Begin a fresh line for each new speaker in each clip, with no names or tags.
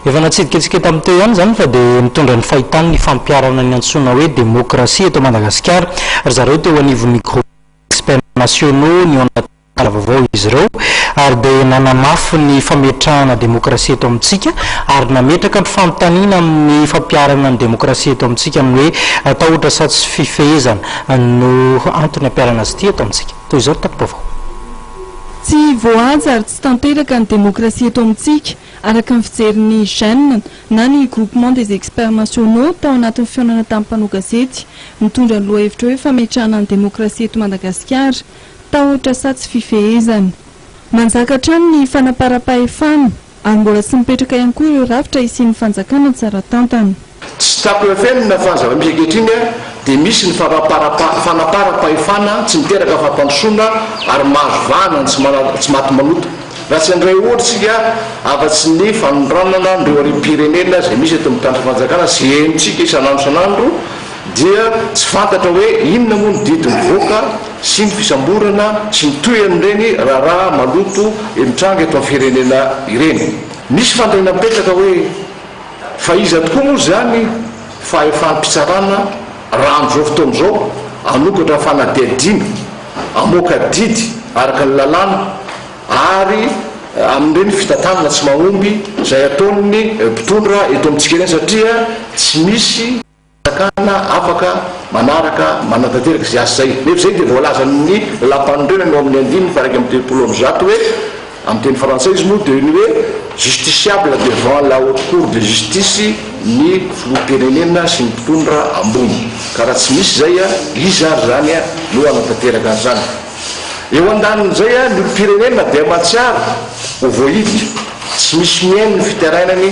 Efa natsidika antsika tamin'ny teo ihany izany fa dia mitondra ny fahitany ny fampiharana ny antsoina hoe demokrasia eto Madagasikara. Ry zareo teo anivon'ny Groupe des experts nationaux nihoan-tantara vaovao izy ireo ary dia nanamafy ny fametrahana demokrasia eto amintsika ary nametraka ny fanontaniana amin'ny fampiharana ny demokrasia eto amintsika amin'ny hoe tahotra sa tsy fifehezana no antony hampiharana azy ity eto amintsika. Toy izao ny tati-baovao. Tsy
voahaja ary tsy tanteraka ny demokrasia eto amintsika Araka ny fijerin'ny GEN, na ny Groupement des Experts Nationaux, tao anatin'ny fihaonana tamin'ny mpanao gazety, nitondra ny lohahevitra hoe fametrahana ny demokrasia eto Madagasikara, tahotra sa tsy fifehezana. Manjaka hatrany ny fanamparam-pahefana, ary mbola tsy mipetraka ihany koa ireo rafitra hisian'ny fanjakana tsara tantana. Tsy tapaka eo
feno ny nafana zava-misy ankehitriny dia misy ny fanaparam-pahefana tsy miteraka fampandrosoana ary mahazo vahana ny tsy maty manota. Raha tsy handray ohatra isika afa-tsy ny fanondranana an'ireo harem-pirenena izay misy eto amin'ny tany fanjakana sy henontsika isan'andro isan'andro dia tsy fantatra hoe inona moa ny didy mivoaka sy ny fisamborana sy ny tohin'ireny raharaha maloto mitranga eto amin'ny firenena ireny. Misy fandaniana mipetraka hoe. Fa iza tokoa moa izany fahefam-pitsarana raha amin'izao fotoana izao hanokatra fanadihadiana, hamoaka didy araka ny lalàna ary amin'ireny fitantanana tsy mahomby izay ataon'ny mpitondra eto amintsika ireny satria tsy misy Fanjakana afaka manaraka, manatanteraka izay asa izay. Nefa izay dia voalazan'ny Lampanorenana ao amin'ny andininy faha-iraika amby telopolo amby zato hoe, amin'ny teny frantsay izy moa dia ny hoe justiciable devant la Haute Cour de Justice ny Filoham-pirenena sy ny mpitondra ambony. Ka raha tsy misy izay, iza ary izany no hanatanteraka an'izany? Eo andanin'izay, ny olom-pirenena dia mahatsiaro ho voahilika, tsy misy mihaino ny fitarainany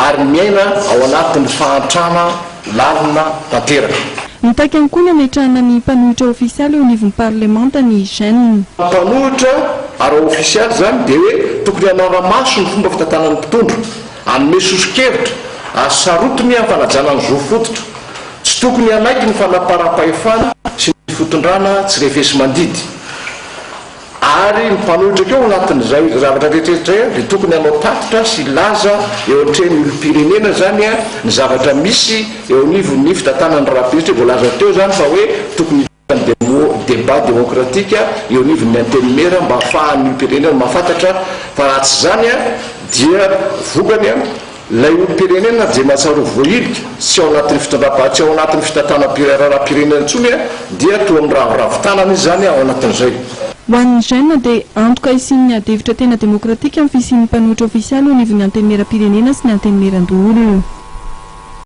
ary miaina ao anatin'ny fahantrana lalina tanteraka. Mitaky ihany koa
ny hametrahana ny mpanohitra ofisialy eo anivon'ny parlemanta ny Gen. Mpanohitra
ara-ofisialy izany dia hoe tokony hanara-maso ny fomba fitantanan'ny mpitondra, hanome soso-kevitra ary sarotiny ny fanajana ny zo fototra. Tsy tokony hanaiky ny fanamparam-pahefana sy ny fotondrana tsy refesi-mandidy. Ary ny mpanohitra koa ao anatin'izay zavatra rehetra izay dia tokony hanao tatitra sy hilaza eo anatrehan'ny olom-pirenena izany ny zavatra misy eo anivon'ny fitantanana ny rahampitso. Voalaza teo izany fa hoe tokony. Débat démocratique eo anivon'ny Antenimiera mba hahafahan'ny olom-pirenena mahafantatra fa raha tsy izany dia vokany ilay olom-pirenena dia mahatsiaro voahilika, tsy ao anatin'ny fitondram-panjakana, tsy ao anatin'ny fitantanam-piraharaham-pirenena intsony dia toa miraviravy tanana izy izany ao anatin'izay. Ho an'ny Gen
dia antoka hisian'ny adihevitra tena démocratique amin'ny fisian'ny mpanohitra ofisialy eo anivon'ny Antenimieram-pirenena sy ny Antenimieran-doholona.